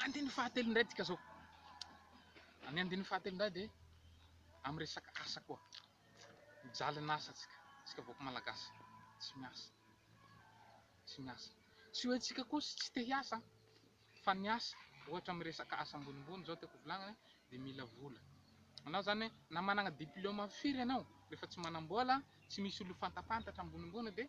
Andininy fahatelo indray dika zao. Ny andininy fahatelo indray dia amin'ny resaka asa koa. Mijaly ny asa tsika, tsika vahoaka malagasy tsy miasa. Tsy miasa. Tsy hoe tsika koa tsy te hiasa fa ny asa ohatra amin'ny resaka asa ambonimbony zao tiako volagnina dia mila vola. Anao zany na managna diplôma firy anao rehefa tsy manambola, tsy misy olofantapantatra ambonimbony dia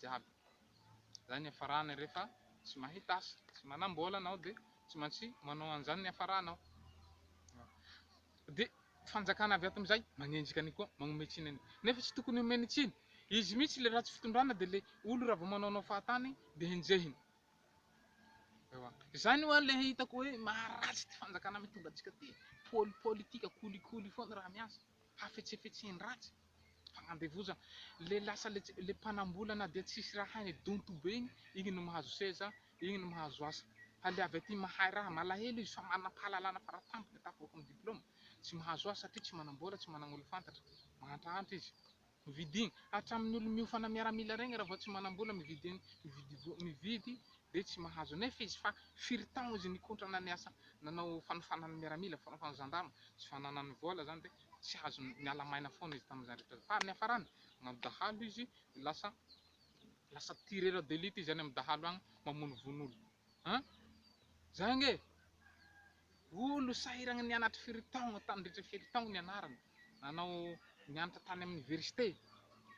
jiaby. Izay ny hiafarany rehefa tsy mahita asa, tsy manam-bola anao dia tsy maintsy manao an'izany ny hiafaranao. Dia fanjakana avy ato amin'izay manenjika an'io koa, manome tsiny an'io. Nefa tsy tokony omeny tsiny. Izy mihitsy ilay ratsy fitondrana dia ilay olona raha vao manaonao fahatany dia enjehiny. Ewa. Izany hoa ilay hitako hoe maharatsy ity fanjakana mitondra antsika ity. Poli- Politika kolikoly foana raha miasa. Hafetsefetsen-dratsy. Andevozan le lasa le mpanambola na dia tsisy raha hainy donto be igny, igny no mahazo seza, igny no mahazo asa. Haleavy aty mahay raha, malahelo izy fa manam-pahalalana fara-tampony tafavoaka am diploma, tsy mahazo asa satria tsy manambola, tsy managn olo fantatra, mahantrahantra izy. Mividigny, hatramin'ny olo miofana miaramila regny raha vao tsy manambola mividy mividy mividy de tsy mahazo, nefa izy fa firy taogno izy nikotrana niasa nanao fanofanana miaramila, fanofanana zandama, tsy fananany vola zany de tsy azo miala maina foana izy tamin'izany rehetra izany. Fa ny hafarany, manao dahalo izy, lasa lasa tirera d'élite izy any amin'ny dahalo any, mamonovono olo. An? Zay ange! Olo sahiragna nianatra firy taogno, nandritra firy taogno nianarana, nanao nianatra tany amin'ny oniversite,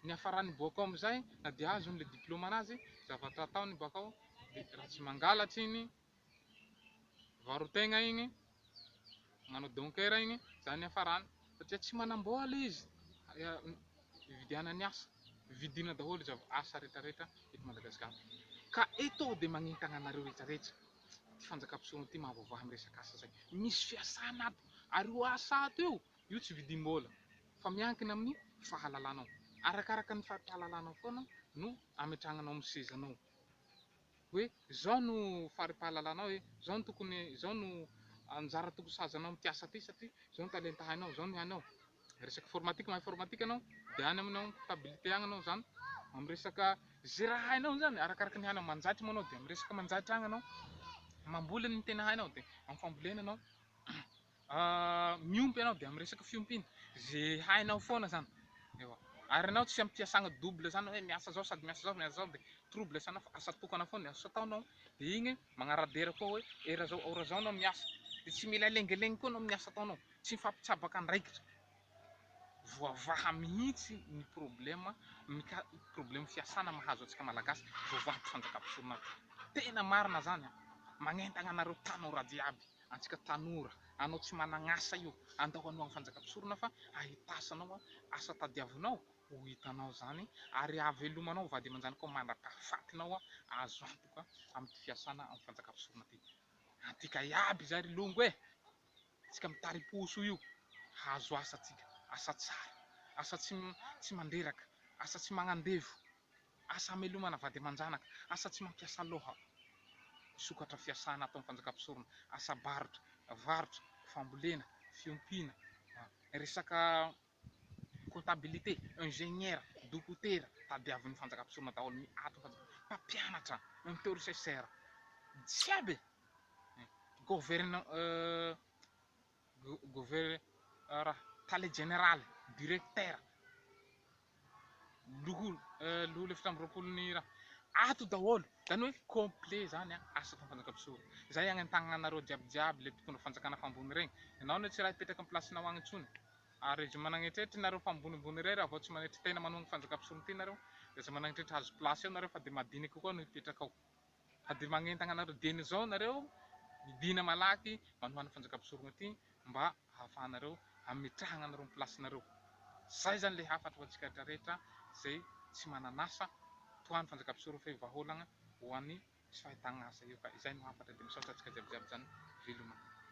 ny hafarany boaka ao amin'izay, na dia azony le diplaoma anazy, zavatra ataony boaka ao, dia raha tsy mangalatra iny, mivaro tegna igny, manao donkera igny, zany hiafarany satria tsy manam-bola izy, hividianany asa, vidina daholo izy asa rehetra rehetra eto Madagasikara, ka eto aho dia magnentana anareo rehetra rehetra, ity fanjakam-pisehoana ity mahavaovà amin'ny resaka asa zay, misy fiasana ato, ary io asa ato io, io tsy vidim-bola fa miankina amin'ny fahalalanao, arakaraka ny fahalalanao foana no ametrahanao amin'ny sezanao. hoe izao no fari-pahalalanao hoe izao no tokony izao no anjara tokony sahajanao amin'ity asa ity satria izao no talenta hainao izao no hainao resaka formatique mahay formatique ianao dia any aminao comptabilité agny ianao izany amin'ny resaka izay raha hainao izany arakaraka ny hainao manjaitra moa ianao dia amin'ny resaka manjaitra agny ianao mamboly ny tena hainao dia amin'ny fambolena ianao Miompy ianao dia amin'ny resaka fiompiana, ze hainao foana zany, ewa, ary ianao tsy amin'ny fiasana double zany hoe miasa zao sady miasa zao, miasa zao dia trouble sana fa asa tokana foana ny asa ataonao dia iny magnara-dera koa hoe heure zao heure zao ianao miasa dia tsy mila lengelengy koa ianao amin'ny asa ataonao, tsy mifampitsabaka andraikitra, voavaha mihitsy ny problème mika- problème fiasana mahazo antsika malagasy, voavaha ato fanjakam-pisorona ato, tena marina zany an! magnentagna anareo tanora jiaby. antsika tanora, anao tsy managn'asa io, andao hanoa ny fanjaka-mpisorona fa ahitasanao asa tadiavinao ho hitanao izany ary hahavelomanao vady aman-janaka ao mandra-pahafatinao azo antoka amin'ity fiasana amin'ny fanjaka-mpisorona ity. Antika iaby izay ry longo e! Antsika mitari-po soa io hahazo asa antsika, asa tsara, asa tsy tsy mandreraka, asa tsy magnandevo. Asa hamelomana vady aman-janaka, asa tsy mampiasa loha, sokatra fiasana ataon'ny fanjakam-pisorona, asa barotra, varotra, fambolena, fiompiana, resaka comptabilité, ingénieur, dokotera, tadiavin'ny fanjakam-pisorona daholo ny aton'ny fanjakam-pisorona, mpampianatra, untersesser, jiaby e! Govern. Governora, Tale Jeneraly, Direktera, Loholona efatra amby roapolo ny ra. Ato daholo, zany hoe complet zany an, asa ataon'ny fanjakam-pisora. Zay agny an-tagnanareo jiaby jiaby le mpitondra fanjakana fa ambony regny. Ianao anie tsy raha hipetraka am place-nao agny intsony. Ary aza managnetrehitra nareo fa ambonimbony irery avao tsy manetry tena manohagna fanjakam-pisoron-ty nareo. De aza managnetrehitra hahazo place eo nareo fa de madiniky koa no hipetraka ao. Fa dia magnentagna anareo dieny izao nareo midina malaky manohana fanjaka mpisorogna ty mba ahafahanareo ametrahagna anareo am place nareo zay zany le hafatra ho antsika retra retra zay tsy manan'asa tohano fanjaka mpisoro f'eo vahaolagna ho any tsy fahitagna asa eo ka izay no hafatra dia misaotra antsika jiaby jiaby zany veloma.